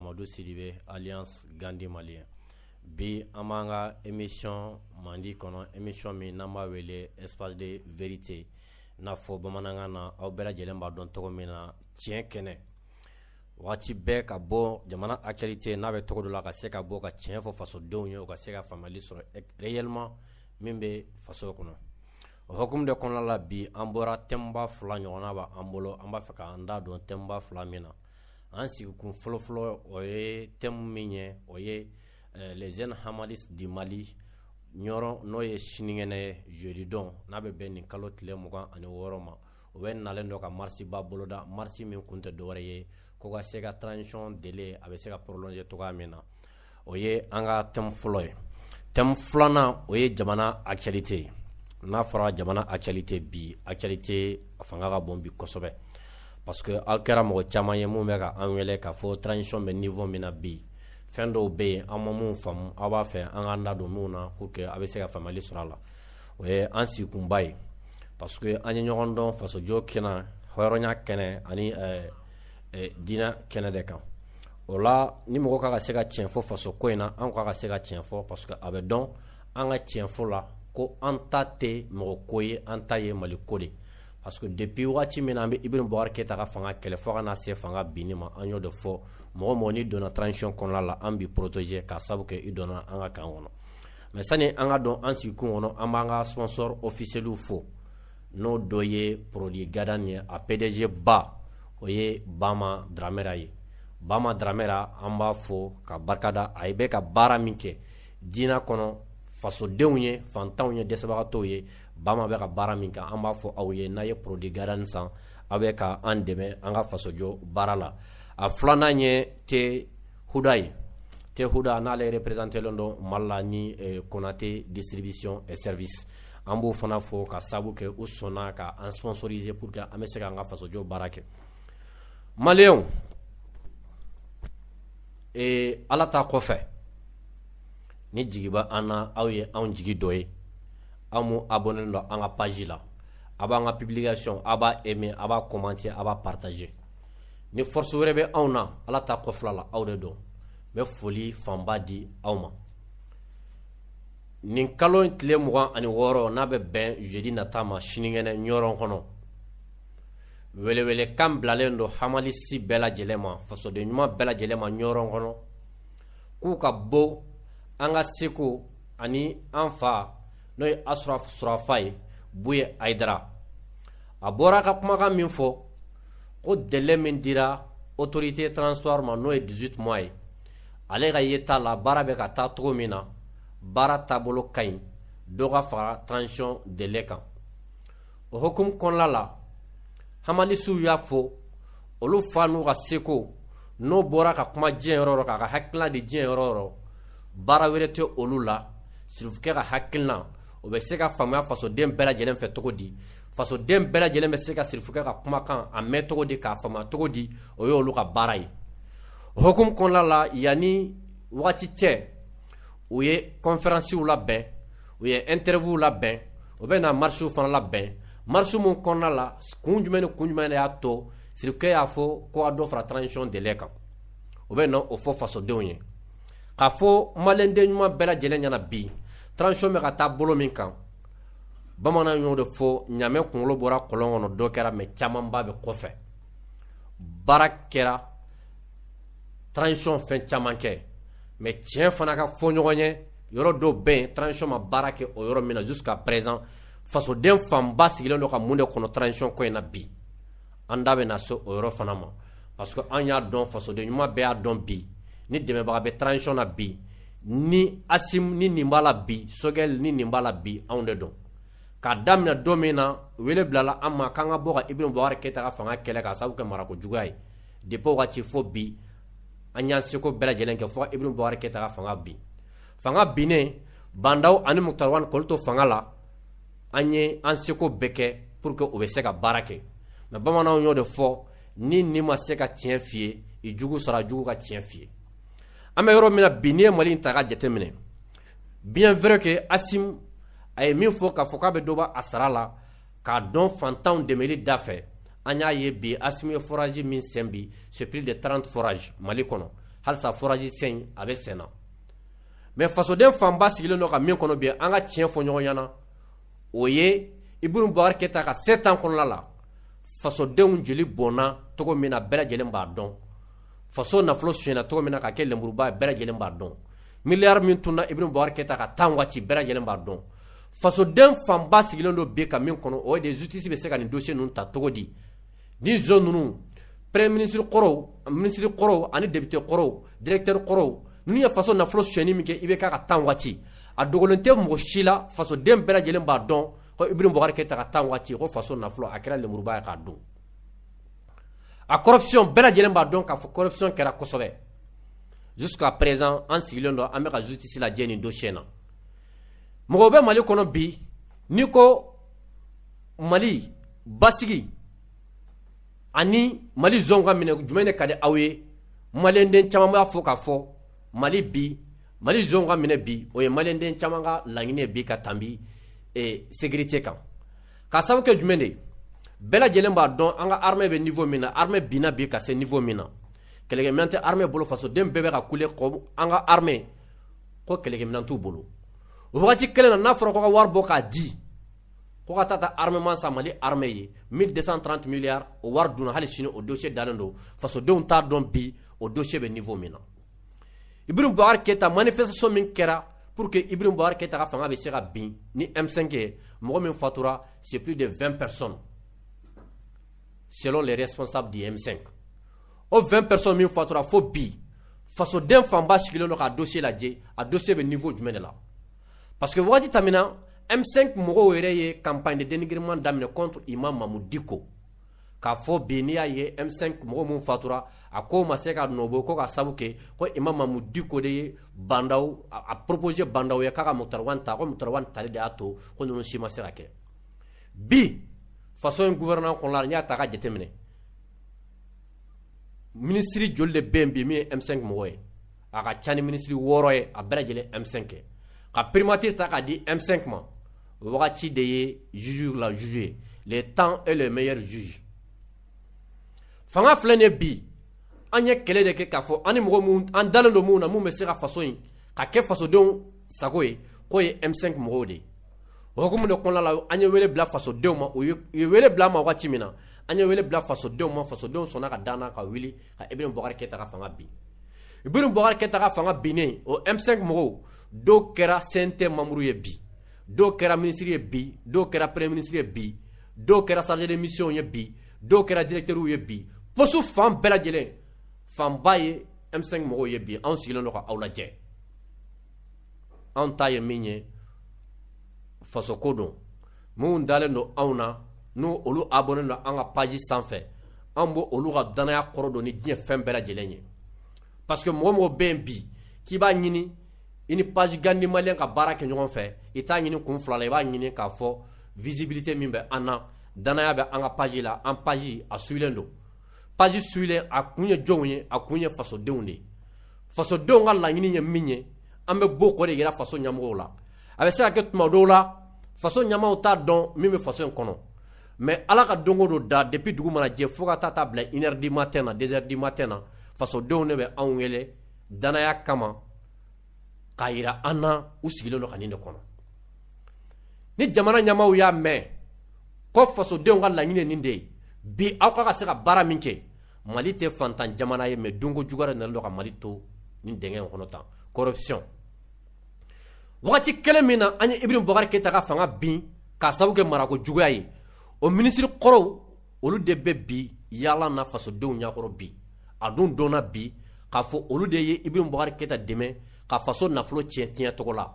Madu Sidibe alias Gandi maliyɛn bi an b'an ka emisiyɔn mandi kɔnɔ emisiyɔn min n'an b'a wele espace de vérité n'a fɔ bamanankan na aw bɛɛ lajɛlen b'a dɔn tɔgɔ min na tiɲɛ kɛnɛ waati bɛɛ ka bɔ jamana actualité n'a bɛ cogo dɔ la ka se ka bɔ ka tiɲɛ fɔ fasodenw ye u ka se ka faamuyali sɔrɔ réellement min bɛ faso kɔnɔ o hukumu de kɔnɔna la bi an bɔra thème ba fila ɲɔgɔn b'an bolo an b'a fɛ k'an da don thème ba fila min na an sigikun fɔlɔfɔlɔ o ye thème min ye o ye eh, les jeunes hamalistes du mali ɲɔrɔn n'o ye sinikɛnɛ ye jeudi don n'a bɛ bɛn nin kalo tile mugan ani wɔɔrɔ ma o bɛnnalen don ka marisiba boloda marisi min kun tɛ dɔwɛrɛ ye ko ka se ka transition délai a bɛ se ka prolonger cogoya min na o ye an ka thème fɔlɔ ye thème filanan o ye jamana actualité ye n'a fɔra jamana actualité bi actualité a fanga ka bon bi kosɛbɛ parce que aw kɛra mɔgɔ caman ye minnu bɛ ka an wele k'a fɔ transition bɛ niveau min na bi fɛn dɔw bɛ yen an ma minnu faamu aw b'a fɛ an ka da don minnu na pour que a bɛ se ka faamuyali sɔrɔ a la o ye an sigikunba ye parce que an ye ɲɔgɔn dɔn fasojɔ kɛnɛ hɔrɔnya kɛnɛ ani diinɛ kɛnɛ de kan o la ni mɔgɔ ka ka se ka tiɲɛ fɔ faso ko in na an ka ka se ka tiɲɛ fɔ parce que a bɛ dɔn an ka tiɲɛ fɔ la ko an ta tɛ mɔgɔ ko ye an ta ye mali ko de parce que depuis waati min na an bɛ Ibrahim Bubakar Keyita ka fanga kɛlɛ fo ka na se fanga binni ma an y'o de fɔ mɔgɔ mɔgɔ n'i donna transition kɔnɔna la an b'i protéger ka sabu kɛ i donna an ka kan kɔnɔ mais sani an ka don an sigikun kɔnɔ an b'an ka sponsor officiels fo n'o dɔ ye produit gadan ye a pdg ba o ye bama dramera ye bama dramera an b'a fo ka barika da a ye a bɛ ka baara min kɛ diinɛ kɔnɔ fasodenw ye fantanw ye dɛsɛbagatɔw ye bama bɛ ka baara min kɛ an b'a fɔ aw ye n'aw ye produit gadan san aw bɛ ka an dɛmɛ an ka fasojɔ baara la a filanan ye te huda ye te huda n'ale reperezantelen don mali la ni eh, konate distribution et service an b'o fana fo ka sabu kɛ u sɔnna ka an sponsoriser pour que an bɛ se k'an ka fasojɔ baara kɛ maliyɛnw eh, ala ta kɔfɛ ni jigi b'an na aw ye anw jigi dɔ ye aw mu abonnélen don an ka page la a b'an ka publication a b'a aimer a b'a commenter a b'a partager ni force wɛrɛ bɛ anw na ala ta kɔfɛla la aw de don an bɛ foli fanba di aw ma nin kalo in tile mugan ani wɔɔrɔ n'a bɛ bɛn jeudi nata ma sinikɛnɛ ɲɔrɔn kɔnɔ welewele kan bilalen don hamalisi bɛɛ lajɛlen ma fasoden ɲuman bɛɛ lajɛlen ma ɲɔrɔn kɔnɔ k'u ka bɔ an ka seku ani an fa n'o ye asarafu surafayi buye hayidara a bɔra ka kumakan min fɔ ko délai min dira autorité transition ma n'o ye 18 mois ye ale ka yeta la baara bɛ ka taa cogo min na baara taabolo ka ɲi dɔ ka fara transition délai kan o hukumu kɔnɔla la hamalisiw y'a fɔ olu fan'u ka seko n'o bɔra ka kuma diɲɛ yɔrɔ k'a ka hakilina di diɲɛ yɔrɔ baara wɛrɛ tɛ olu la sirifukɛ ka hakilina o bɛ se ka faamuya fasoden bɛɛ lajɛlen fɛ cogo di fasoden bɛɛ lajɛlen bɛ se ka sirifukɛ ka kumakan a mɛn cogo di k'a faamuya cogo di o y'olu ka baara ye hukumu kɔnɔna la yanni wagati cɛ u ye kɔnfɛransiw labɛn u ye interview labɛn u bɛ na marisiw fana labɛn marisiw min kɔnɔna la kun jumɛn ni kun jumɛn de y'a to sirifukɛ y'a fɔ ko dɔ fara transition délai kan u bɛ na o fɔ fasodenw ye k'a fɔ malidenɲuman bɛɛ lajɛlen ɲɛna bi transition bɛ ka taa bolo min kan bamanan y'o de fɔ ɲamɛ kunkolo bɔra kɔlɔn kɔnɔ dɔ kɛra mɛ camanba bɛ kɔfɛ baara kɛra transition fɛn caman kɛ mɛ tiɲɛ fana ka fɔ ɲɔgɔn ye yɔrɔ dɔw bɛ yen transition ma baara kɛ o yɔrɔ min na jusqu'à présent fasoden fanba sigilen don ka mun de kɔnɔ transition ko in na bi an da bɛna se o yɔrɔ fana ma parce que an y'a dɔn fasoden ɲuman bɛɛ y'a dɔn bi ni dɛmɛbaga bɛ transition na bi ni asim ni nin b'a la bi sogɛl ni nin b'a la bi anw de don k'a daminɛ don min na wele bilala an ma k'an ka bɔ ka Ibrahim Boubacar Keita ka fanga kɛlɛ k'a sababu kɛ marako juguya ye depuis o waati fo bi an y'an seko bɛɛ lajɛlen kɛ fo Ibrahim Boubacar Keita ka fanga bin fanga binnen Ba N'Daw ani Moctar Ouane k'olu to fanga la an ye an seko bɛɛ kɛ pour que o bɛ se ka baara kɛ mais bamananw y'o de fɔ n'i ɲi ma se ka tiɲɛ f'i ye i jugu sara jugu ka tiɲɛ f'i ye an bɛ yɔrɔ min na bi n'i ye mali in ta ka jateminɛ bien vrai que asim a ye min fɔ k'a fɔ k'a bɛ dɔ bɔ a sara la k'a don fantanw dɛmɛli dafɛ an y'a ye bi asim ye foraji min sen bi c'est plus de 30 forage mali kɔnɔ halisa foraji sen a bɛ senna mɛ fasoden fanba sigilen don ka min kɔnɔ bi an ka tiɲɛ fɔ ɲɔgɔn ɲɛna o ye Ibrahim Boubacar Keita ka 7 ans kɔnɔla la fasodenw jeli bɔnna cogo min na bɛɛ lajɛlen b'a dɔn faso nafolo sonyana cogo min na ka kɛ lenburuba bɛɛ lajɛlen b'a dɔn miliyari min tunna Ibrahim Boubacar Keita ka temps waati bɛɛ lajɛlen b'a dɔn fasoden fanba sigilen don bi ka min kɔnɔ o ye de justice bɛ se ka nin dossier ninnu ta cogo di Ni zon ninnu premier ministre kɔrɔw ministre kɔrɔw ani député kɔrɔw directeur kɔrɔw ninnu ye faso nafolo sonyali min kɛ IBK ka temps waati a dogolen tɛ mɔgɔ si la fasoden bɛɛ lajɛlen b'a dɔn ko Ibrahim Boubacar Keita ka temps waati ko faso nafolo a kɛra lemuruba ye k'a dun a corruption bɛɛ lajɛlen b'a dɔn k'a fɔ corruption kɛra kosɛbɛ jusqu'à présent an sigilen don an bɛ ka justice lajɛ nin dossier na mɔgɔw bɛ Mali kɔnɔ bi n'i ko Mali basigi ani mali zon ka minɛ jumɛn de ka di aw ye maliyɛnden caman b'a fɔ k'a fɔ mali bi mali zon ka minɛ bi o ye maliyɛnden caman ka laɲini ye bi ka tanbi sécurité kan ka sababu kɛ jumɛn de bɛɛ lajɛlen b'a dɔn an ka armée bɛ niveau min na armée binna bi ka se niveau min na kɛlɛkɛminɛn tɛ armée bolo fasoden bɛɛ bɛ ka kule ko an ka armée ko kɛlɛkɛminɛn t'u bolo o waati kelen na n'a fɔra ko ka wari bɔ k'a di ko ka taa taa armement san mali armée ye 1230 milliards o wari dunna hali sini o dossier dalen don fasodenw t'a dɔn bi o dossier bɛ niveau min na ibrahim boubacar keita manifestation min kɛra pour que ibrahim boubacar keita ka fanga bɛ se ka bin ni m5 ye mɔgɔ min fatura c'est plus de 20 personnes selon les responsables du m5 o 20 personnes min fatura fo bi fasoden fanba sigilen don k'a dossier lajɛ a dossier bɛ niveau jumɛn de la Parce que wagati tɛmɛna M5 mɔgɔw yɛrɛ ye campagne de dénigrement daminɛ contre imam Mahmoud Dicko k'a fɔ bi n'i y'a ye M5 mɔgɔ minnu fatura a ko ma se ka nɔbɔ ko ka sabu kɛ ko imam Mahmoud Dicko de ye Bah N'Daw a proposer Bah N'Daw ye k'a ka Moctar Ouane ta ko Moctar Ouane tali de y'a to ko ninnu si ma se ka kɛ bi faso in gouvernement kɔnɔna la n'i y'a ta ka jateminɛ ministre joli de bɛ yen bi min ye M5 mɔgɔ ye a ka ca ni minisiri wɔɔrɔ ye a bɛɛ lajɛlen M5 ye ka primature ta k'a di M5 ma o wagati de ye juge la juge ye le temps est le meilleur juge fanga filɛ nin ye bi an ye kɛlɛ de kɛ k'a fɔ an ni mɔgɔ minnu an dalen don minnu na minnu bɛ se ka faso in ka kɛ fasodenw sago ye k'o ye M5 mɔgɔw de ye o hukumu de kɔnɔna la an ye wele bila fasodenw ma u ye wele bila an ma wagati min na an ye wele bila fasodenw ma fasodenw sɔnna ka d'an na ka wuli ibrahim boubacar keita ka fanga bin ibrahim boubacar keita ka fanga binnen o M5 mɔgɔw dɔw kɛra CNT membre ye bi dɔw kɛra ministre ye bi dɔw kɛra premier ministre ye bi dɔw kɛra chargé de mission ye bi dɔw kɛra directeurw ye bi poste fan bɛɛ lajɛlen fanba ye M5 mɔgɔw ye bi anw sigilen don ka aw lajɛ anw ta ye min ye fasoko don minnu dalen don anw na n' olu abonné don an ka page sanfɛ an b' olu ka dannaya kɔrɔ don ni diɲɛ fɛn bɛɛ lajɛlen ye parce que mɔgɔ o mɔgɔ bɛ yen bi k'i b'a ɲini i ni page gandhi malien ka baara kɛ ɲɔgɔn fɛ i t'a ɲini kun fila la i b'a ɲini k'a fɔ visibilité min bɛ an na dannaya bɛ an ka page la an page a suivilen don page suivilen a kun ye jɔnw ye a kun ye fasodenw de ye fasodenw ka laɲini ye min ye an bɛ bɔ k'o de jira faso ɲamɔgɔw la a bɛ se ka kɛ tuma dɔw la faso ɲamaw t'a dɔn min bɛ faso in kɔnɔ mais ala ka don o don da depuis dugu mana jɛ fo ka taa a bila 1 heure du matin na 2 heures du matin na fasodenw de bɛ anw wele danaya kama k'a yira an na u sigilen don ka nin de kɔnɔ ni jamana ɲamaw y'a mɛn ko fasodenw ka laɲini nin de ye bi aw ka ka se ka baara min kɛ mali tɛ fantan jamana ye mais donko jugu de nalen don ka mali to nin dingɛ kɔnɔ tan corruption wagati kelen min na an ye ibrahim boubacar keita ka fanga bin k'a sabu kɛ marako juguya ye o minisiri kɔrɔw olu de bɛ bi yaala na fasodenw ɲakɔrɔ bi a dun dɔnna bi k'a fɔ olu de ye ibrahim boubacar keita dɛmɛ ka faso nafolo tiɲɛ tiɲɛ cogo la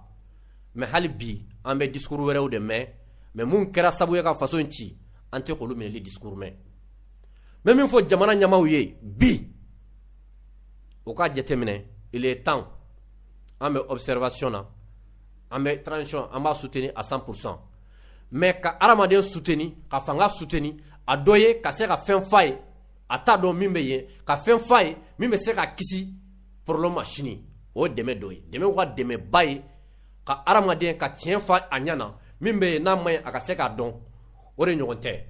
mais hali bi an bɛ discours wɛrɛw de mɛn mais mun kɛra sabu ye ka faso in ci an tɛ k'olu minɛli discours mɛn n bɛ min fɔ jamana ɲamaw ye bi u k'a jateminɛ il est temps an bɛ observation na an bɛ transition an b'a soutenir à 100 pour 100 mais ka hadamaden soutenir ka fanga soutenir a dɔ ye ka se ka fɛn f'a ye a t'a dɔn min bɛ yen ka fɛn f'a ye min bɛ se k'a kisi problème ma sini o ye dɛmɛ dɔ ye dɛmɛ ka dɛmɛba ye ka hadamaden ka tiɲɛ f'a a ɲɛ na min bɛ yen n'a man ɲi a ka se k'a dɔn o de ɲɔgɔn tɛ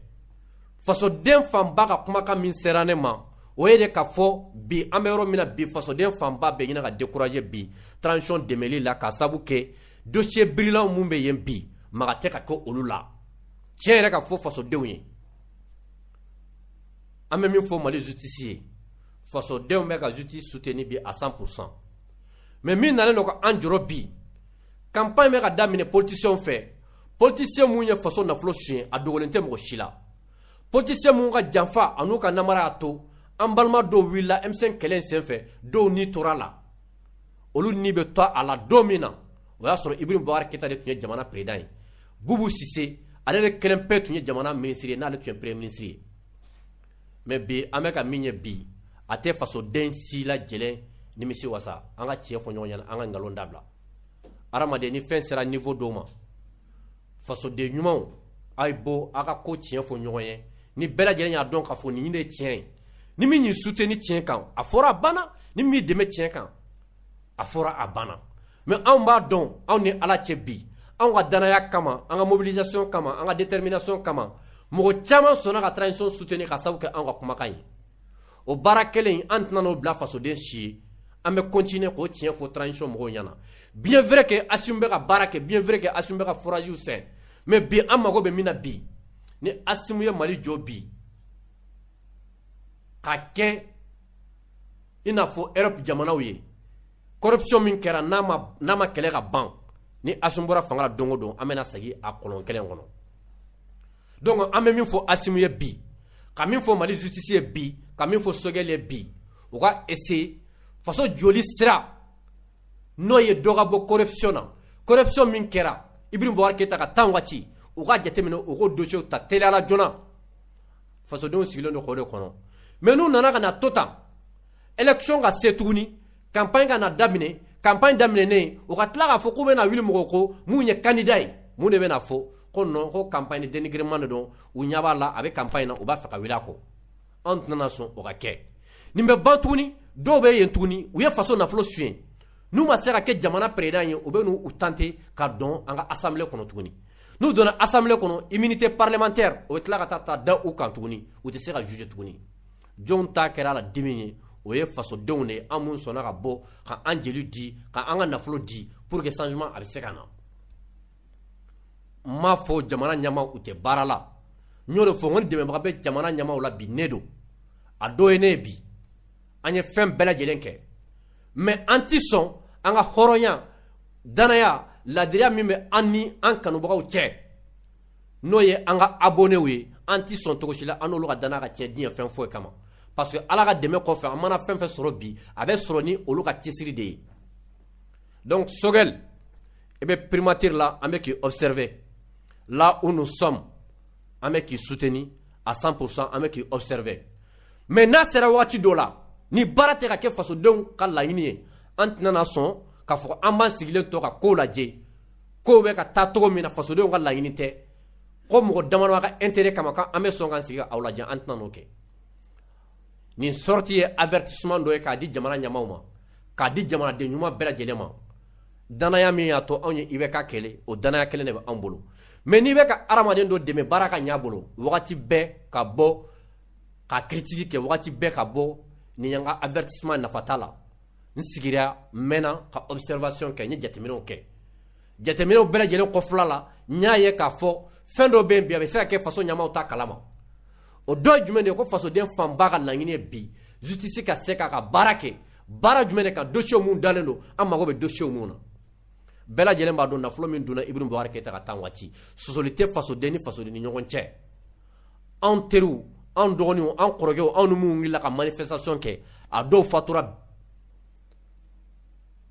fasoden fanba ka kumakan min sera ne ma o ye de k'a fɔ bi an bɛ yɔrɔ min na bi fasoden fanba bɛ ɲini ka décourager bi transition dɛmɛli la k'a sabu kɛ dossier brûlantw min bɛ yen bi maga tɛ ka kɛ olu la tiɲɛ yɛrɛ ka fɔ fasodenw ye an bɛ min fɔ mali justice ye fasodenw bɛ ka justice soutenir bi à 100 pour cent mais min nalen don ka an jɔrɔ bi campagne bɛ ka daminɛ politiciens fɛ politiciens minnu ye faso nafolo suɲɛ a dogolen tɛ mɔgɔ si la politiciens minnu ka janfa an'u ka namara y'a to an balima dɔw wulila M5 kɛlɛ senfɛ dɔw ni tora la olu ni bɛ to a la don min na o y'a sɔrɔ ibrahim boubacar keita de tun ye jamana président ye boubou cissé ale de kelen pe tun ye jamana minisiri ye n'ale tun ye premier ministre ye mais bi an bɛ ka min ye bi a tɛ fasoden si lajɛlen nimisi wasa an ka tiɲɛ fɔ ɲɔgɔn ɲɛna an ka nkalon dabila adamaden ni fɛn sera niveau dɔw ma fasoden ɲumanw a ye bɔ aw ka ko tiɲɛ fɔ ɲɔgɔn ye ni bɛɛ lajɛlen y'a dɔn k'a fɔ nin de ye tiɲɛ ye ni min y'i soutenir tiɲɛ kan a fɔra a banna ni min dɛmɛ tiɲɛ kan a fɔra a banna mais anw b'a dɔn anw ni ala cɛ bi anw ka danaya kama an ka mobilisation kama an ka détermination kama mɔgɔ caman sɔnna ka transition soutenir k'a sabu kɛ anw ka kumakan ye o baara kelen an tɛna n'o bila fasoden si ye an bɛ continuer k'o tiɲɛ fɔ transition mɔgɔw ɲɛna bien vrai que Assimi bɛ ka baara kɛ bien vrai que Assimi bɛ ka foragew sɛn mais bi an mago bɛ min na bi ni Assimi ye Mali jɔ bi ka kɛ i n'a fɔ Europe jamanaw ye corruption min kɛra n'a ma n'a ma kɛlɛ ka ban ni Assimi bɔra fanga la don o don an bɛna segin a kɔlɔn kelen kɔnɔ don an bɛ min fɔ asi ye bi ka min fɔ mali sutisi ye bi ka min fɔ sokɛkɛ bi u ka ese faso joli sira n'o ye dɔgɔ bɔ koɛ na koɛ min kɛra i bɛ bɔ kɛ ta ka tan waati u ka jateminɛ u ko donso ta tla joona fasodenw sigilen don kɔ de kɔnɔ mɛ n'u nana ka na to tan élection ka se tuguni campagne ka na daminɛ campagne daminɛnen u ka tila k'a fɔ k'u bɛna wuli mɔgɔ kɔ min ye candidat ye mun de bɛna fɔ ko non ko campagne dénigrement de don u ɲɛ b'a la a bɛ campagne na u b'a fɛ ka wuli a kɔ an tɛna sɔn o ka kɛ nin bɛ ban tuguni dɔw bɛ yen tuguni u ye faso nafolo suɲɛ n'u ma se ka kɛ jamana président ye u bɛ n'u tenter ka don an ka assemblée kɔnɔ tuguni n'u donna assemblée kɔnɔ immunité parlementaire o bɛ tila ka taa ta da u kan tuguni u tɛ se ka juger tuguni jɔnw ta kɛra a la dimi ye o ye fasodenw de ye an minnu sɔnna ka bɔ ka an jeli di ka an ka nafolo di pour que changement a bɛ se ka na n m'a fɔ jamana ɲɛmaaw u tɛ baara la n y'o de fɔ n ko ni dɛmɛbaga bɛ jamana ɲɛmaaw la bi ne don a dɔ ye ne ye bi an ye fɛn bɛɛ lajɛlen kɛ mais an ti sɔn an ka hɔrɔnya danaya laadiriya min bɛ an ni an kanubagaw cɛ n'o ye an ka abonnéw ye an tɛ sɔn cogo si la an n'olu ka danaya ka tiɲɛ diɲɛ fɛn foyi kama parce que Ala ka dɛmɛ kɔfɛ an mana fɛn fɛn sɔrɔ bi a bɛ sɔrɔ ni olu ka cɛsiri de ye donc Choguel i bɛ primature la an bɛ k'i observer là où nous sommes an bɛ k'i soutenir à 100% an bɛ k'i observer mais n'a sera waati dɔ la ni baara tɛ ka kɛ fasodenw ka laɲini ye an tɛna na sɔn k'a fɔ an b'an sigilen to ka kow lajɛ kow bɛ ka taa cogo min na fasodenw ka laɲini tɛ ko mɔgɔ dama ka intérêt kama an bɛ sɔn k'an sigi k'aw lajɛ an tɛna o kɛ nin sortie ye avertissement dɔ ye k'a di jamana ɲɛmaaw ma k'a di jamanaden ɲuman bɛɛ lajɛlen ma danaya min y'a to anw ye IBK kɛlɛ o danaya kelen de bɛ anw bolo mais n'i bɛ ka adamaden dɔ dɛmɛ baara ka ɲɛ a bolo wagati bɛɛ ka bɔ ka critique kɛ wagati bɛɛ ka bɔ ni an ka avertissement nafa t'a la n sigira n mɛnna ka observation kɛ n ye jateminɛw kɛ jateminɛw bɛɛ lajɛlen kɔfɛla la n y'a ye k'a fɔ fɛn dɔ bɛ yen bi a bɛ se ka kɛ faso ɲɛmaaw t'a kalama o dɔ ye jumɛn de ye ko fasoden fanba ka laɲini ye bi justice ka se k'a ka baara kɛ baara jumɛn de ka dossier min dalen don an mago bɛ dossier min na bɛɛ lajɛlen b'a dɔn nafolo min donna Ibrahim Boubacar Keita ka temps waati sɔsɔli tɛ fasoden ni fasoden ni ɲɔgɔn cɛ anw teriw anw dɔgɔninw anw kɔrɔkɛw anw ni minnu wulila ka manifestation kɛ a dɔw fatura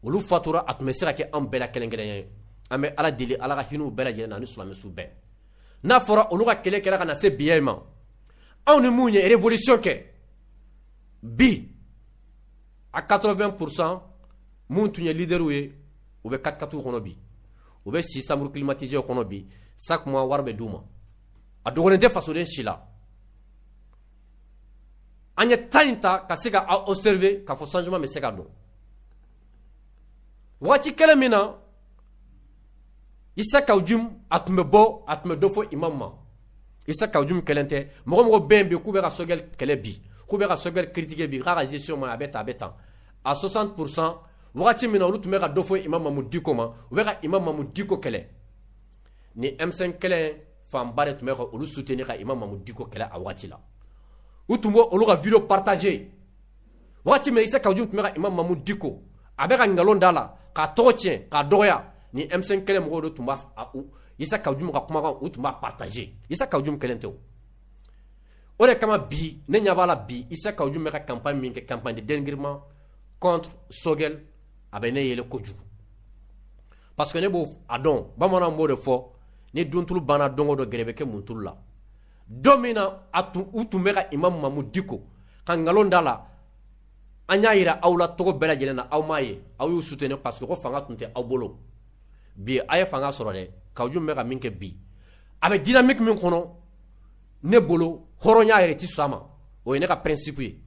olu fatura a tun bɛ se ka kɛ anw bɛɛ la kelen-kelenya ye an bɛ ala deli ala ka hinɛ u bɛɛ lajɛlen na ani silamɛ su bɛɛ n'a fɔra olu ka kɛlɛ kɛra ka na se biya in ma anw ni minnu ye révolution kɛ bi a 80 pourcent minnu tun ye leaderw ye u bɛ katikatiw kɔnɔ bi u bɛ si chambre climatiséew kɔnɔ bi chaque mois wari bɛ d'u ma a dogolen tɛ fasoden si la an ye temps in ta ka se k'a observer k'a fɔ changement bɛ se ka don waati kelen min na isa kawujim a tun bɛ bɔ a tun bɛ dɔ fɔ imam ma isa kawujim kelen tɛ mɔgɔ mɔgɔ bɛ yen bi k'u bɛ ka sogɛli kɛlɛ bi k'u bɛ ka sogɛli critiquer bi k'a ka gestion ma a bɛ tan a bɛ tan a 60 pourcent wagati min na olu tun bɛ ka dɔ fɔ imam mamu diko ma u bɛ ka imam mamu diko kɛlɛ ni m5 kɛlɛ fanba de tun bɛ ka olu soutenir ka imam mamu diko kɛlɛ a waati la u tun b'olu ka vidéo partager waati min isa kawujim tun bɛ ka imam mamu diko a bɛ ka nkalon da a la k'a tɔgɔ tiɲɛ k'a dɔgɔya ni m5 kɛlɛ mɔgɔw tun b' isa kawujim ka kumakan u tun b'a partager isa kawujim kelen tɛ o de kama bi ne ɲɛ b'a la bi isa kawujim bɛ ka campagne min kɛ campagne de dénigrement contre sogɛl a bɛ ne yɛlɛ kojugu parce que ne b'a dɔn bamanan b'o de fɔ ni duntulu banna don dɔ gɛrɛ bɛ kɛ muntulu la don min na a tun u tun bɛ ka imam mamu diko ka nkalon da a la an y'a jira aw la tɔgɔ bɛɛ lajɛlen na aw m'a ye aw y'u soutenir parce que ko fanga tun tɛ aw bolo bi a ye fanga sɔrɔ dɛ kawujim bɛ ka min kɛ bi a bɛ dynamique min kɔnɔ ne bolo hɔrɔnya yɛrɛ tɛ sɔn a ma o ye ne ka principe ye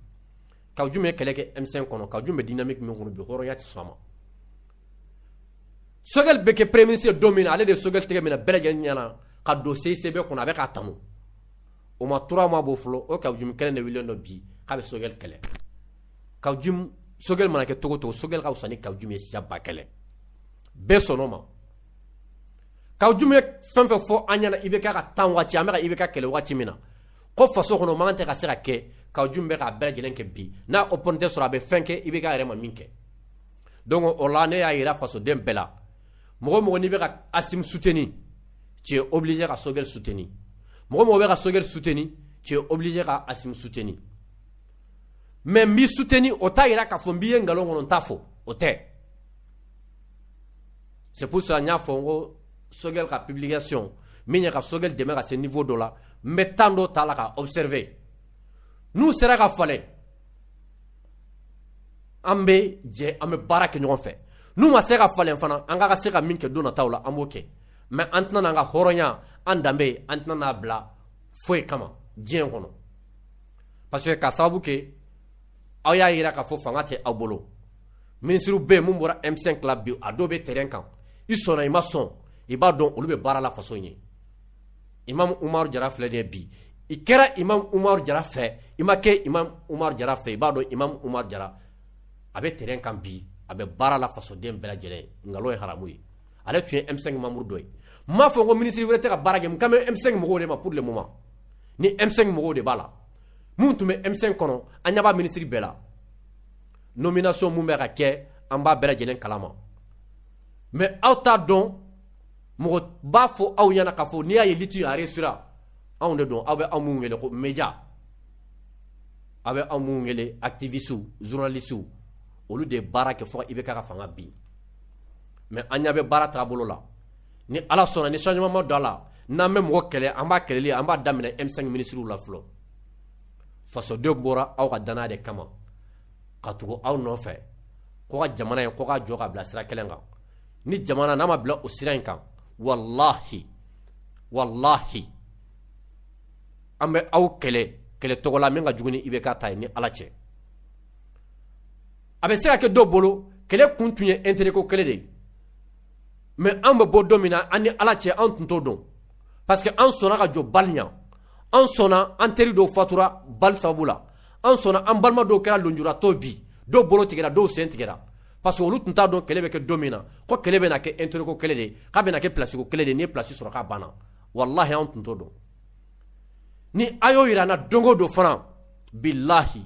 kawujim ye kɛlɛ kɛ m5 kɔnɔ kawujim bɛ dynamique min kɔnɔ bi hɔrɔnya tɛ sɔn a ma sogɛli bɛ kɛ premier ministre don min na ale de ye sogɛli tigɛ minɛ bɛɛ lajɛlen ɲɛna ka don cicb kɔnɔ a bɛ k'a tanu o ma 3 mois bɔ fɔlɔ o kawujim kelen de wililen don bi k'a bɛ sogɛli kɛlɛ kawujim sogɛli mana kɛ cogo cogo sogɛli ka fisa ni kawujim ye siɲɛ ba kelen bɛɛ sɔn o ma kawujim ye fɛn fɛn fɔ an ɲɛna ibk ka temps waati an bɛ ka ibk kɛlɛ waati min na ko faso kɔnɔ man tɛ ka se ka kɛ kawujim bɛ k'a bɛɛ lajɛlen kɛ bi n'a opportunité sɔrɔ a bɛ fɛn kɛ ibk yɛrɛ ma min kɛ donc o la ne y'a jira fasoden bɛɛ la mɔgɔ mɔgɔ n'i bɛ ka asim soutenir t'es obligé ka sogɛl soutenir mɔgɔ mɔgɔ bɛ ka sogɛl soutenir t'es obligé ka asim soutenir mais n b'i soutenir o t'a jira k'a fɔ n b'i ye nkalon kɔnɔ n t'a fɔ o tɛ c'est pour ça n y'a fɔ n ko Sogɛl ka publication min ye ka Sogɛl dɛmɛ ka se niveau dɔ la n bɛ temps dɔ ta la ka observer n'u sera ka falen an bɛ jɛ an bɛ baara kɛ ɲɔgɔn fɛ n'u ma se ka falen fana an ka ka se ka min kɛ don nataw la an b'o kɛ mais an tɛna n'an ka hɔrɔnya an danbe an tɛna n'a bila foyi kama diɲɛ kɔnɔ parce que ka sababu kɛ aw y'a jira k'a fɔ fanga tɛ aw bolo minisiriw bɛ yen mun bɔra M5 la bi a dɔw bɛ terrain kan i sɔnna i ma sɔn i b'a dɔn olu bɛ baara la faso ɲɛ Imam Umar Jara filɛ nin bi i kɛra Imam Umar Jara fɛ i ma kɛ Imam Umar Jara fɛ i b'a dɔn Imam Umar Jara a bɛ terrain kan bi a bɛ baara la fasoden bɛɛ lajɛlen nkalon ye haramu ye ale tun ye M5 membre dɔ ye n m'a fɔ ko minisiri wɛrɛ tɛ ka baara kɛ n kan bɛ M5 mɔgɔw de ma pour le moment ni M5 mɔgɔw de b'a la minnu tun bɛ M5 kɔnɔ an ɲɛ b'a minisiri bɛɛ la nomination mun bɛ ka kɛ an b'a bɛɛ lajɛlen kalama mais aw t'a dɔn mɔgɔ b'a fɔ aw ɲɛna k'a fɔ n'i y'a ye lutte a réussira anw de don aw bɛ anw minnu wele ko média aw bɛ anw minnu wele activisiw journalisiw olu de ye baara kɛ fɔ IBK ka fanga bin mais an ɲɛ bɛ baara taabolo la ni ala sɔnna ni changement ma don a la n'an bɛ mɔgɔ kɛlɛ an b'a kɛlɛ an b'a daminɛ M5 minisiriw la fɔlɔ fasodenw bɔra aw ka danaya de kama ka tugu aw nɔfɛ ko ka jamana in ko ka jɔ ka bila sira kelen kan ni jamana n'a ma bila o sira in kan walahi walahi an bɛ aw kɛlɛ kɛlɛcogo la min ka jugu ni IBK ta ye ni ala cɛ a bɛ se ka kɛ dɔ bolo kɛlɛ kun tun ye intérêt ko kɛlɛ de ye mais an bɛ bɔ don min na an ni ala cɛ an tun t'o dɔn parce que an sɔnna ka jɔ balle ɲɛ an sɔnna an teri dɔw fatura balle sababu la an sɔnna an balima dɔw kɛra lonjuratɔ bi dɔw bolo tigɛra dɔw sen tigɛra parce que olu tun t'a dɔn kɛlɛ bɛ kɛ don min na ko kɛlɛ bɛna kɛ intérêt ko kɛlɛ de k'a bɛna kɛ place ko kɛlɛ de n'i ye place sɔrɔ k'a banna walahi an tun t'o dɔn ni a y'o yira an na don o don fana bilahi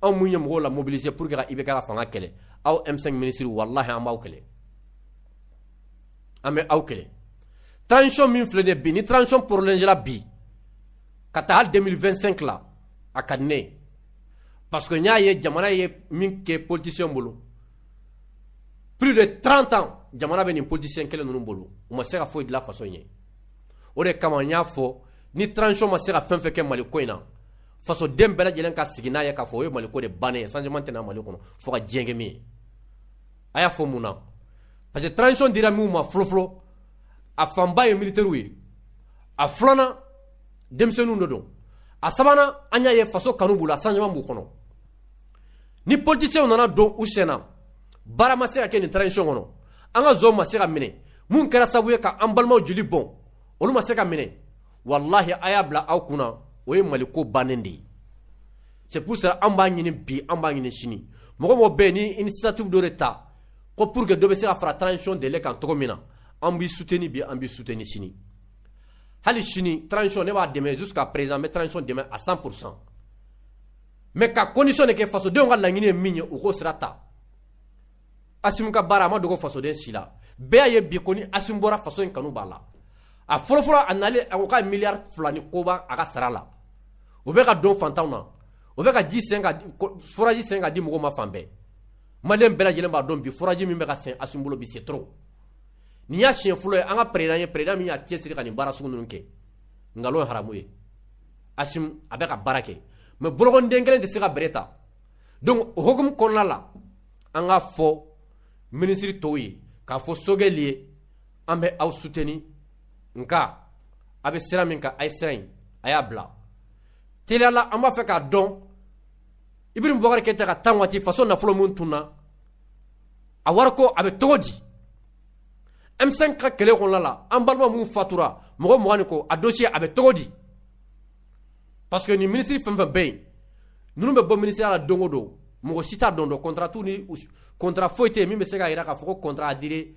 anw mun ye mɔgɔw la mobiliser pour que ka IBK ka fanga kɛlɛ aw M5 ministres walahi an b'aw kɛlɛ an bɛ aw kɛlɛ transition min filɛ nin ye bi ni transition prolongée la bi ka taa hali 2025 la a ka di ne ye parce que n y'a ye jamana ye min kɛ politicien bolo plus de 30 ans jamana bɛ nin politicien kelen ninnu bolo u ma se ka foyi dilan faso ɲɛ o de kama n y'a fɔ ni transition ma se ka fɛn fɛn kɛ Mali ko in na faso den bɛɛ lajɛlen ka sigi n'a ye k'a fɔ o ye maliko de bannen ye changement tɛ na mali kɔnɔ fo ka diɲɛ kɛ min ye a y'a fɔ mun na parce que transition dira minnu ma fɔlɔfɔlɔ a fanba ye militaires ye a filanan denmisɛnninw de don a sabanan an y'a ye faso kanu b'u la changement b'u kɔnɔ ni politiciens nana don u sen na baara ma se ka kɛ nin transition kɔnɔ an ka zonw ma se ka minɛ minnu kɛra sababu ye ka an balimaw joli bɔn olu ma se ka minɛ walahi a y'a bila aw kunna o ye mali ko bannen de ye c'est pour cela an b'a ɲini bi an b'a ɲini sini mɔgɔ o mɔgɔ bɛ nin initiative dɔ de ta ko pour que dɔ bɛ se ka fara transition délai kan cogo min na an b'i suteni bi an b'i suteni sini hali sini transition ne b'a dɛmɛ jusqu'à présent n bɛ transition dɛmɛ à 100 pourcent mais ka condition de kɛ fasodenw ka laɲini ye min ye u k'o sira ta Asimi ka baara a ma dogo fasoden si la, bɛɛ y'a ye bi ko ni Asimi bɔra faso in kanu b'a la, a fɔlɔ fɔlɔ a nalen a ko k'a ye miliyari fila ni kɔ bɔ a ka sara la, o bɛ ka don fantanw na, o bɛ ka ji sen ka foraji sen ka di mɔgɔw ma fan bɛɛ, maliyɛn bɛɛ lajɛlen b'a dɔn bi foraji min bɛ ka sen Asimi bolo bi c'est trop nin y'a siɲɛ fɔlɔ ye an ka président ye président min y'a cɛsiri ka nin baara sugu ninnu kɛ, nkalon ye haramu ye, Asimi a bɛ ka baara kɛ mais bolokɔniden kelen tɛ se ka bɛrɛ ta donc o hukumu kɔnɔna la an k'a fɔ minisiri tɔw ye k'a fɔ Sogɛli ye an bɛ aw suteni nka a bɛ sira min kan a ye sira in a y'a bila teliya la an b'a fɛ k'a dɔn Ibrahim Boubacar Keïta ka tan waati faso nafolo min tununna a wari ko a bɛ cogo di M5 ka kɛlɛ kɔnɔna la an balima minnu fatura mɔgɔ mugan ni kɔ a dosiye a bɛ cogo di parce que nin minisiri fɛn o fɛn bɛ yen ninnu bɛ bɔ minisiriya la don don mɔgɔ si t'o dɔn kɔntra t'u ni kɔntra foyi tɛ yen min bɛ se k'a jira k'a fɔ contrat à durée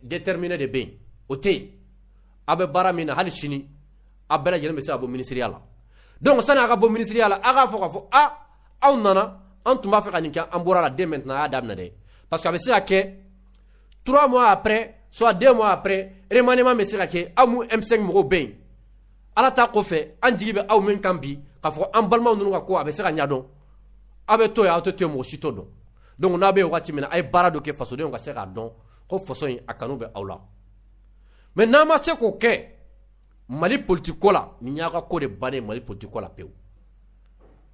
déterminée de bɛ yen o tɛ yen aw bɛ baara min na hali sini aw bɛɛ lajɛlen bɛ se ka bɔ minisiriya la dɔnku sani a ka bɔ minisiriya la aw k'a fɔ k'a fɔ a aw nana an tun b'a fɛ ka nin kɛ an bɔra a la dès maintenant a y'a daminɛ dɛ parce que a bɛ se ka kɛ trois mois après soit deux mois après remaniement bɛ se ka kɛ aw M5 mɔgɔw bɛ yen ala ta kɔfɛ an jigi bɛ aw min kan bi k'a fɔ an balimaw ninnu ka ko a bɛ se ka ɲɛdɔn aw bɛ to yen aw tɛ to yen mɔgɔ si t'o dɔn donc n'a bɛ waati min na a ye baara dɔ kɛ fasodenw ka se k'a dɔn ko faso in a kanu bɛ aw la mais n'a ma se k'o kɛ mali politiki ko la nin y'a ka ko de ban mali politiki ko la pewu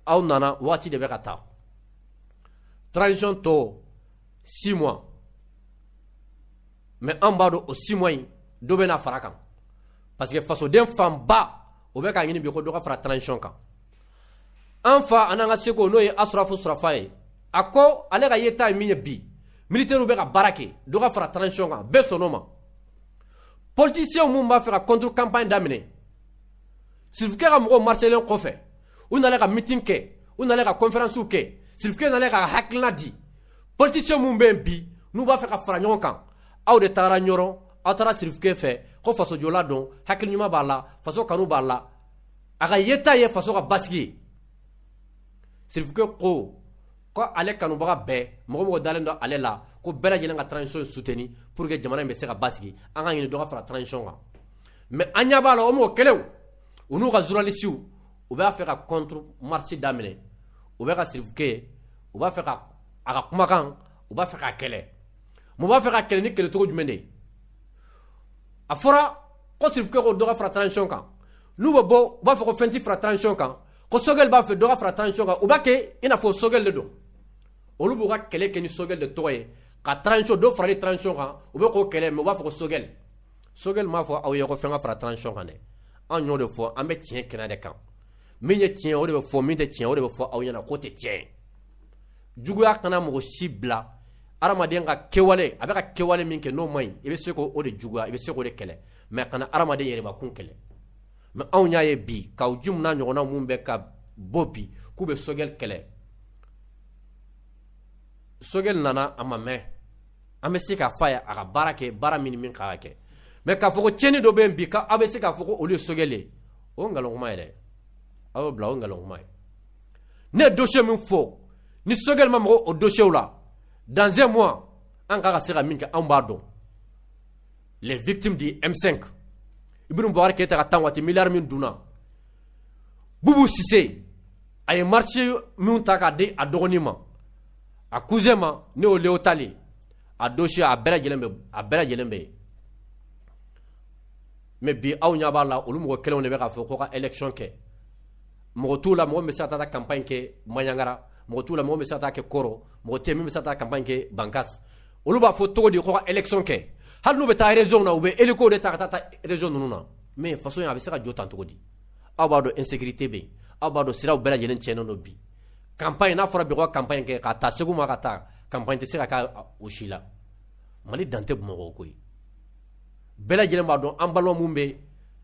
aw nana waati de bɛ ka taa transition tɔ six mois mais an b'a dɔn o six mois in dɔ bɛna fara kan parce que fasoden fanba o bɛ k'a ɲini bi ko dɔ ka fara transition kan an fa an'an ka seko n'o ye asrafo surafa ye a ko ale ka yeta ye min ye bi militɛriw bɛ ka baara kɛ dɔ ka fara transition kan bɛɛ sɔnn'o ma politisiɲɛw minnu b'a fɛ ka contre campagne daminɛ sirifukɛ ka mɔgɔw marselen kɔfɛ u nana ka mitin kɛ u nana ka conférencew kɛ sirifukɛ nana ka hakilina di politisiɲɛw minnu bɛ yen bi n'u b'a fɛ ka fara ɲɔgɔn kan aw de taara ɲɔrɔ aw taara sirifukɛ fɛ ko fasojɔla don hakili ɲuman b'a la faso kanu b'a la a ka yeta ye faso ka basigi ye sirifukɛ ko ale kanubaga bɛɛ mɔgɔ mɔgɔ dalen don ale la ko bɛɛ lajɛlen ka transition soutenir pour que jamana in bɛ se ka basigi an k'a ɲini dɔ ka fara transition kan mais an ɲɛ b'a la o mɔgɔ kelenw u n'u ka journalistes u b'a fɛ ka contre marche daminɛ u bɛ ka sirifukɛ ye u b'a fɛ ka a ka kumakan u b'a fɛ k'a kɛlɛ mais u b'a fɛ k'a kɛlɛ ni kɛlɛcogo jumɛn de ye a fɔra ko sirifukɛ ko dɔ ka fara transition kan n'u bɛ bɔ u b'a fɔ ko fɛn tɛ fara transition kan ko sogɛli b'a fɛ dɔ ka fara transition kan u b'a kɛ i n'a fɔ sogɛli de don olu b'u ka kɛlɛ kɛ ni sogɛli de tɔgɔ ye ka transition dɔ farali transition kan u bɛ k'o kɛlɛ mais u b'a fɔ ko sogɛli sogɛli m'a fɔ aw ye ko fɛn ka fara transition kan dɛ an y'o de fɔ an bɛ tiɲɛ kɛnɛ de kan min ye tiɲɛ o de bɛ fɔ min tɛ tiɲɛ o de bɛ fɔ aw ɲɛna k'o tɛ tiɲɛ juguya kana mɔgɔ si bila adamaden ka kɛwale a bɛ ka kɛwale min kɛ n'o man ɲi i bɛ se k'o de juguya i bɛ se k'o de kɛlɛ mais kana adamaden yɛrɛbakun kɛlɛ mais anw y'a ye bi Kaou Djim n'a ɲɔgɔnna minnu bɛ ka bɔ bi k'u bɛ sogɛli kɛlɛ sogɛli nana a ma mɛn an bɛ se k'a fɔ a ye a ka baara kɛ baara min ni min kan ka kɛ mais k'a fɔ ko tiɲɛni dɔ bɛ yen bi k'aw bɛ se k'a fɔ ko olu ye sogɛli ye o ye nkalonkuma ye dɛ aw y'o bila o ye nkalonkuma ye ne ye dossier min fɔ ni sogɛli ma maga o dossier la dans un mois an kan ka se ka min kɛ anw b'a dɔn les victimes du M5 Ibrahim Boubacar Keïta ka temps waati miliyari min dunna Boubou Cissé a ye marché minnu ta k'a di a dɔgɔnin ma a cousin ma ne y'o Léo Tali a dossier a bɛɛ lajɛlen bɛ a bɛɛ lajɛlen bɛ yen mais bi aw ɲɛ b'a la olu mɔgɔ kelenw de bɛ k'a fɔ ko ka élection kɛ mɔgɔ t'u la mɔgɔ bɛ se ka taa campagne kɛ banjagara mɔgɔ t'u la mɔgɔ bɛ se ka taa kɛ kɔrɔ mɔgɔ tɛ min bɛ se ka taa campagne kɛ bankasi olu b'a fɔ cogo di ko ka élection kɛ hali n'u bɛ taa région na u bɛ hélico de ta ka taa région ninnu na mais faso a bɛ se ka jɔ tan cogo di aw b'a dɔn insécurité bɛ yen aw b'a dɔn siraw bɛɛ lajɛlen tiɲɛnen don bi campagne n'a fɔra bi campagne kɛ ka taa segu ma ka taa campagne tɛ se ka taa o si la mali dan tɛ bamakɔ bɛɛ lajɛlen b'a dɔn an balima minnu bɛ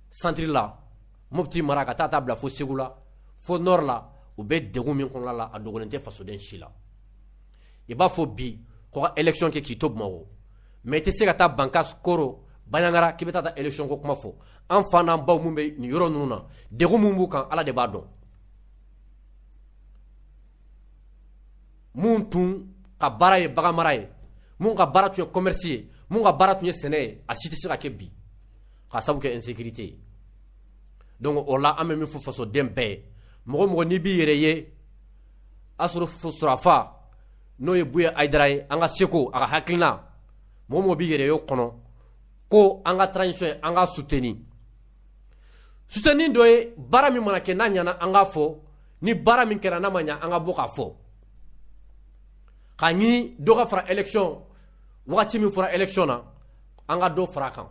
santiri la mopti mara ka taa taa bila fo segu la fo nɔri la u bɛ degun min kɔnɔna la a dogolen tɛ fasoden si la i b'a fɔ bi ko ka election kɛ k'i to bamakɔ mɛ i tɛ se ka taa bankas koro baɲangara k'i bɛ taa taa election ko kuma fɔ an fa n'an baw minnu bɛ nin yɔrɔ ninnu na degun min b'u kan ala de b'a dɔn minnu tun ka baara ye baganmara ye minnu ka baara tun ye commerce ye minnu ka baara tun ye sɛnɛ ye a si tɛ se ka kɛ bi k'a sabu kɛ insécurité ye donc o la an bɛ min fɔ fasoden bɛɛ ye mɔgɔ mɔgɔ n'i b'i yɛrɛ ye asoro surafa n'o ye buye ayidara ye an ka seko a ka hakilina mɔgɔ mɔgɔ b'i yɛrɛ ye o kɔnɔ ko an ka transition an k'a soutenir suteni dɔ ye baara min mana kɛ n'a ɲana an k'a fɔ ni baara min kɛra n'a ma ɲa an ka bɔ k'a fɔ k'a ɲini dɔ ka fara election wagati min fɔra election na an ka dɔ fara a kan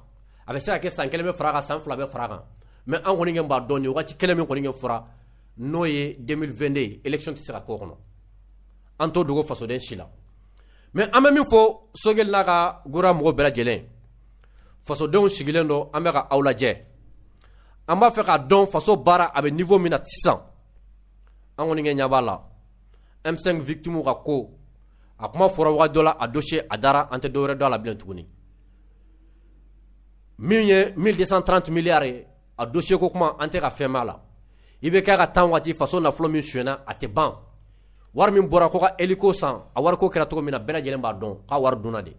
a bɛ se ka kɛ san kelen bɛ fara a kan san fila bɛ fara a kan mɛ an kɔni kɛ b'a dɔn nin wagati kelen min kɔni kɛ fɔra n'o ye 2022 ye election tɛ se ka k'o kɔnɔ an t'o dogo fasoden si la mɛ an bɛ min fɔ sogɛli n'a ka gouvernement mɔgɔ bɛɛ lajɛlen fasodenw sigilen don an bɛ ka aw lajɛ an b'a fɛ k'a dɔn faso baara a bɛ niveau min na sisan an kɔni kɛ ɲɛ b'a la M5 victimes ka ko a kuma fɔra wagati dɔ la a dossier a dara an tɛ dɔwɛrɛ dɔn a la bilen tuguni min ye mille deux cent trente miliyari ye a dossier ko kuma an tɛ ka fɛn mɛn a la IBK ka temps waati faso nafolo min sonyana a tɛ ban wari min bɔra ko ka hélico san a wari ko kɛra cogo min na bɛɛ lajɛlen b'a dɔn k'a wari dunna de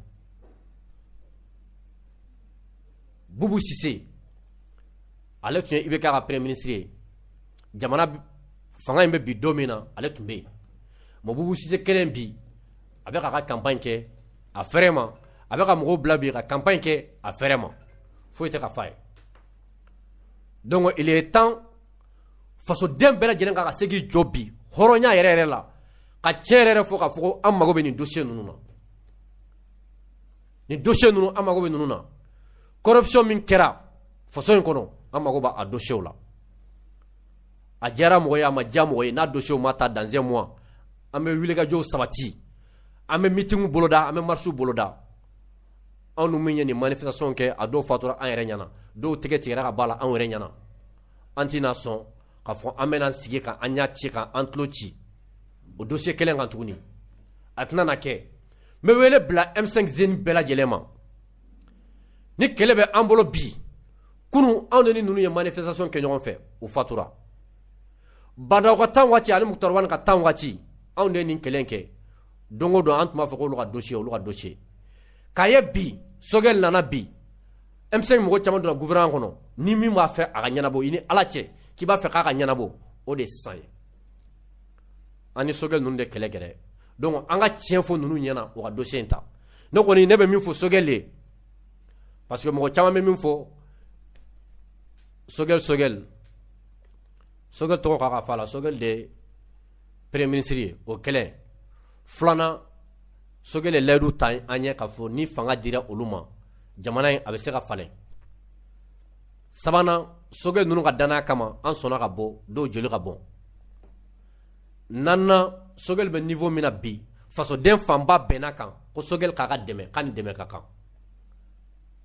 bubu sise ale tun ye IBK ka premier ministre ye jamana fanga in bɛ bin don min na ale tun bɛ yen mɛ bubu sise kelen bi a bɛ ka campagne kɛ a fɛrɛ ma a bɛ k'a ka mɔgɔw bila bi ka campagne kɛ a fɛrɛ ma foyi tɛ ka f'a ye donc il est temps fasoden bɛɛ lajɛlen ka kan ka se k'i jɔ bi hɔrɔnya yɛrɛ yɛrɛ la ka tiɲɛ yɛrɛ fɔ k'a fɔ ko an mago bɛ nin dossier ninnu na nin dossier ninnu an mago bɛ ninnu na corruption min kɛra faso in kɔnɔ an mago b'a dossierw la a diyara mɔgɔ ye a ma diya mɔgɔ ye n'a dossier ma ta dans un mois an bɛ wulikajɔw sabati an bɛ meeting boloda an bɛ marche boloda anw dun min ye nin manifestation kɛ a dɔw fatura an yɛrɛ ɲɛna dɔw tɛgɛ tigɛra ka bɔ a la anw yɛrɛ ɲɛna an tɛna sɔn k'a fɔ an bɛna sigi ka an ɲɛ ci ka an tulo ci o dossier kelen kan tuguni a tɛna na kɛ n bɛ wele bila M5 jeunes bɛɛ lajɛlen ma ni kɛlɛ bɛ an bolo bi kunun anw de ni ninnu ye manifestation kɛ ɲɔgɔn fɛ u fatura Bandaw ka tan waati ani Muktar Wani ka tan waati anw de nin kɛlɛ kɛ don o don an tun b'a fɔ k'olu ka dossier olu ka dossier k'a ye bi sogɛli nana bi M5 mɔgɔ caman donna gouvernement kɔnɔ ni min b'a fɛ a ka ɲɛnabɔ i ni ala cɛ k'i b'a fɛ k'a ka ɲɛnabɔ o de sisan ye an ni sogɛli ninnu de kɛlɛ kɛlɛ donc an ka tiɲɛ fɔ ninnu ɲɛna o ka dossier in ta ne kɔni ne bɛ min fɔ sogɛli ye parce que mɔgɔ caman bɛ min fɔ sogɛli sogɛli sogɛli tɔgɔ k'a ka fa la sogɛli de premier ministre ye o kelen filanan sogɛli ye layidu ta an ɲɛ k'a fɔ ni fanga dira olu ma jamana in a bɛ se ka falen sabanan sogɛli ninnu ka danaya kama an sɔnna ka bɔ dɔw joli ka bɔn naaninan sogɛli bɛ niveau min na bi fasoden fanba bɛnna kan ko sogɛli k'a ka dɛmɛ k'a ni dɛmɛ ka kan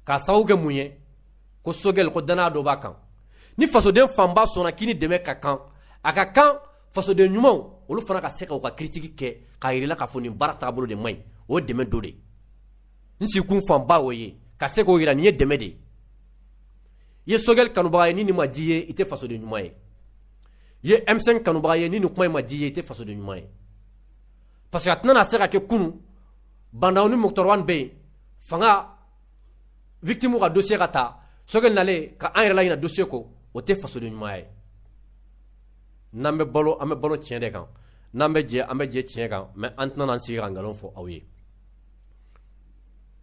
k'a sababu kɛ mun ye ko sogɛli ko danaya dɔ b'a kan ni fasoden fanba sɔnna k'i ni dɛmɛ ka kan a ka kan fasoden ɲumanw olu fana ka se ka u ka critique kɛ k'a yirila k'a fɔ nin baara taabolo de man ɲi o dɛmɛ dɔ de n sigikun fanba o ye ka se k'o yira nin ye dɛmɛ de ye i ye sogɛli kanubaga ye ni nin ma di i ye i tɛ fasoden ɲuman ye i ye M5 kanubaga ye ni nin kuma in ma di i ye i tɛ fasoden ɲuman ye parce que a tɛna se ka kɛ kunun Bandaw ni Muktar Wani bɛ yen fanga victime ka dossier ka ta sogɛli nalen ka an yɛrɛ laɲinɛ dossier kɔ o tɛ fasoden ɲuman ye n'an bɛ balo an bɛ balo tiɲɛ de kan n'an bɛ jɛ an bɛ jɛ tiɲɛ kan mais an tɛna an sigi ka nkalon fɔ aw ye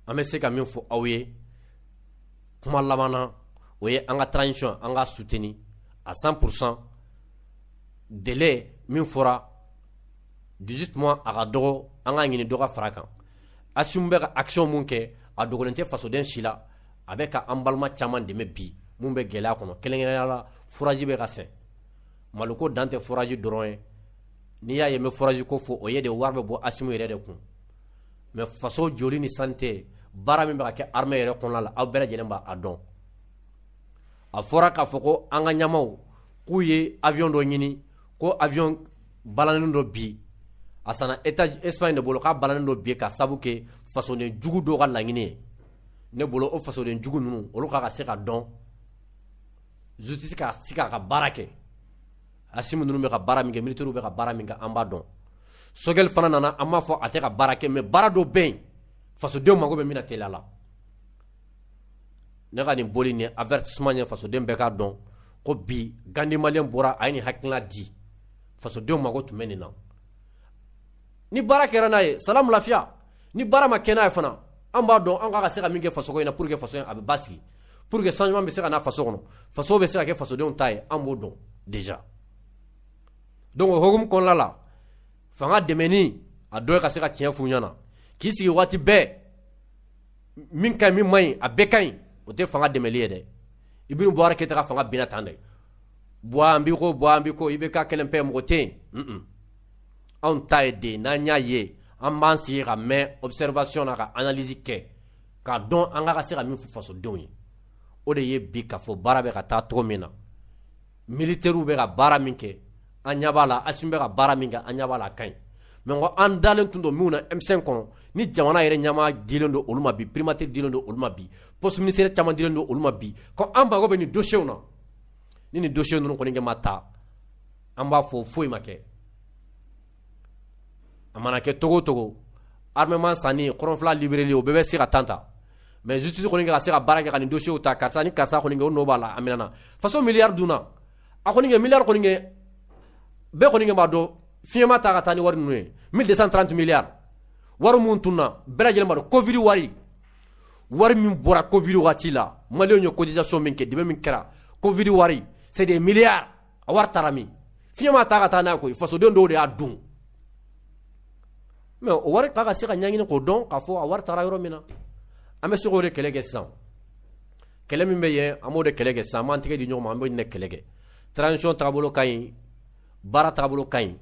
an bɛ se ka min fɔ aw ye kuma laban na o ye an ka transition an ka soutenir à 100 pourcent délai min fɔra 18 mois a ka dɔgɔ an k'a ɲini dɔ ka far'a kan Assimi bɛ ka action min kɛ a dogolen tɛ fasoden si la a bɛ ka an balima caman dɛmɛ bi min bɛ gɛlɛya kɔnɔ kɛrɛnkɛrɛnnenya la foraji bɛ ka sen Mali ko dan tɛ foraji dɔrɔn ye n'i y'a ye n bɛ foraji ko fɔ o ye de wari bɛ bɔ Assimi yɛrɛ de kun mais faso jɔli ni santé baara min bɛ ka kɛ armée yɛrɛ kɔnɔna la aw bɛɛ lajɛlen b'a dɔn a fɔra k'a fɔ ko an ka ɲɛmaaw k'u ye avion dɔ ɲini ko avion balannen don bi a sanna État Espagne de bolo k'a balannen don bi k'a sabu kɛ fasoden jugu dɔ ka laɲini ye ne bolo o fasoden jugu ninnu olu k'a ka se ka dɔn justice ka se k'a ka baara kɛ Assimi ninnu bɛ ka baara min kɛ militaires bɛ ka baara min kɛ an b'a dɔn sogɛli fana nana an m'a fɔ a tɛ ka baara kɛ mais baara dɔ bɛ yen fasodenw mago bɛ min na teliya la ne ka nin bɔli ni avertissement ye fasoden bɛɛ k'a dɔn ko bi Gandhi malien bɔra a ye nin hakilina di fasodenw mago tun bɛ nin na ni baara kɛra n'a ye sa lafiya ni baara ma kɛ n'a ye fana an b'a dɔn an ka se ka min kɛ faso in na pour que faso a bɛ basigi pour que changement bɛ se ka na faso kɔnɔ faso bɛ se ka kɛ fasodenw ta ye an b'o dɔn déjà donc o hukumu kɔnɔna la fanga dɛmɛ a dɔ ye ka se ka tiɲɛ f'u ɲɛna k'i sigi waati bɛɛ min ka ɲi min man ɲi a bɛɛ ka ɲi o tɛ fanga dɛmɛli ye dɛ Ibrahim Boubacar Keita ka fanga binna tan dɛ Boua an b'i kɔ Boua an b'i kɔ IBK kelen pe mɔgɔ tɛ yen anw ta ye de n'an y'a ye an b'an sigi ka mɛn observation na ka analyse kɛ k'a dɔn an ka se ka min fɔ fasodenw ye o de ye bi ka fɔ baara bɛ ka taa cogo min na militaires bɛ ka baara min kɛ an ɲa b'a la Assimi bɛ ka baara min kɛ an ɲa b'a la a ka ɲi mais ko an dalen tun don minnu na M5 kɔnɔ ni jamana yɛrɛ ɲɛmaa dilen don olu ma bi primature dilen don olu ma bi poste ministériel caman dilen don olu ma bi ko an mago bɛ nin dossiers na ni nin dossier ninnu kɔni kɛ ma taa an b'a fɔ foyi ma kɛ a mana kɛ cogo cogo armement sanni kɔrɔnfɛla libéreli o bɛɛ bɛ se ka temps ta mais justice kɔni ka se ka baara kɛ ka nin dossier ta karisa ni karisa kɔni kɛ o nɔ b'a la a minɛna faso milliard dunna a kɔni kɛ milliard kɔni kɛ bɛɛ kɔni kɛ b'a dɔn fiɲɛ m'a ta ka taa ni wari ninnu ye 1230 milliards wari min tununna bɛɛ lajɛlen b'a dɔn covid wari wari min bɔra covid wagati la maliyɛnw ye cotisation min kɛ dɛmɛ min kɛra covid wari c'est des milliards a wari taara min fiɲɛ m'a ta ka taa n'a ye koyi fasoden dɔw de y'a dun mais o wari k'a ka se ka ɲɛɲini k'o dɔn k'a fɔ a wari taara yɔrɔ min na an bɛ se k'o de kɛlɛ kɛ sisan kɛlɛ min bɛ yen an b'o de kɛlɛ kɛ sisan an b'an tɛgɛ di ɲɔgɔn ma an b'o de kɛlɛ kɛ transition taabolo ka ɲi baara taabolo ka ɲi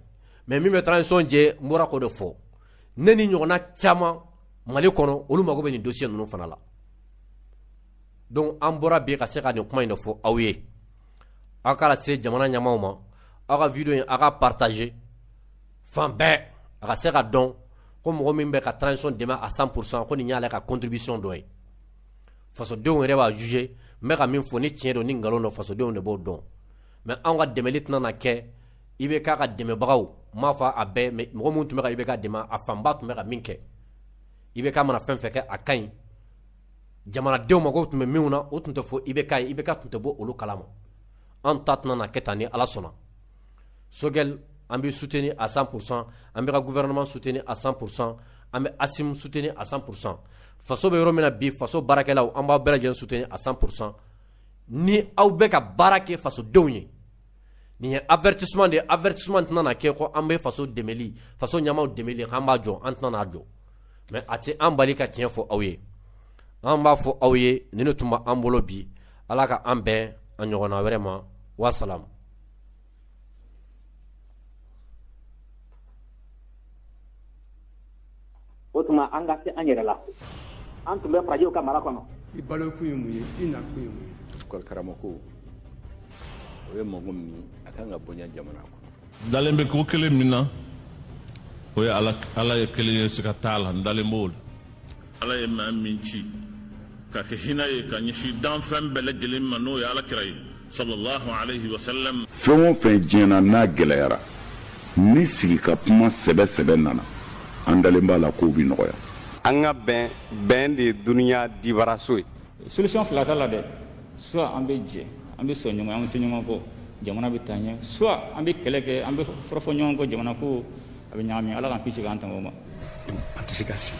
mais min bɛ transition jɛ n bɔra k'o de fɔ ne ni ɲɔgɔnna caman mali kɔnɔ olu mago bɛ nin dossier ninnu fana la donc an bɔra bi ka se ka nin kuma in de fɔ aw ye aw k'a lase jamana ɲɛmaaw ma aw ka video in aw ka partager fan bɛɛ a ka se ka dɔn ko mɔgɔ min bɛ ka transition dɛmɛ à 100% ko nin y'ale ka contribution dɔ ye fasodenw yɛrɛ b'a juger n bɛ ka min fɔ ni tiɲɛ don ni nkalon don fasodenw de b'o dɔn mais anw ka dɛmɛli tɛna na kɛ IBK ka dɛmɛbagaw n m'a fɔ a bɛɛ mais mɔgɔ minnu tun bɛ ka IBK dɛmɛ a fanba tun bɛ ka min kɛ IBK mana fɛn fɛn kɛ a ka ɲi jamanadenw mako tun bɛ min na o tun tɛ fɔ i bɛ ka i bɛ ka tun tɛ bɔ olu kalama an ta tɛna kɛ taa ni ala sɔnna sokɛli an bɛ sut ni a san kurusan an bɛ ka guɛinma sut ni a san kurusan an bɛ a sut ni a san kurusan faso bɛ yɔrɔ min bi faso baarakɛlaw an b'a bɛɛ lajɛlen sut ni a san kurusan ni aw bɛ ka baara kɛ fasodenw ye Nin ye avertissement de ye, avertissement tɛna na kɛ ko an bɛ faso dɛmɛli, faso ɲɛmaaw dɛmɛli k'an b'a jɔ, an tɛna n'a jɔ mais a tɛ an bali ka tiɲɛ fɔ aw ye, an b'a fɔ aw ye nin de tun b'an bolo bi, Ala ka an bɛn a ɲɔgɔnna wɛrɛ ma, wa salam. o tuma an ka se an yɛrɛ la an tun bɛ farajɛw ka mara kɔnɔ i balo kun ye mun ye i na kun ye mun ye école karamɔgɔ o ye mɔgɔ min ye a kan ka bonya jamana kɔnɔ dalen bɛ ko kelen min na o ye ala ye kelen ye siga t'a la n dalen b'o la ala ye maa min ci ka kɛ hinɛ ye ka ɲɛsin danfɛn bɛɛ lajɛlen ma n'o ye ala kira ye sallallahu alayhi wa sallam. fɛn o fɛn diɲɛ na n'a gɛlɛyara ni sigi ka kuma sɛbɛ sɛbɛ nana an dalen b'a la k'o bi nɔgɔya. an ka bɛn bɛn de ye duniya dibaraso ye. solution fila t'a la dɛ soit an bɛ jɛ an bɛ sɔn ɲɔgɔn an bɛ to ɲɔgɔn kɔ jamana bɛ taa ɲɛ soit an bɛ kɛlɛ kɛ an bɛ fɔrɔfɔ ɲɔgɔn kɔ jamana ko a bɛ ɲagami ala k'an kisi k'an tanga o ma. an tɛ se ka sigi.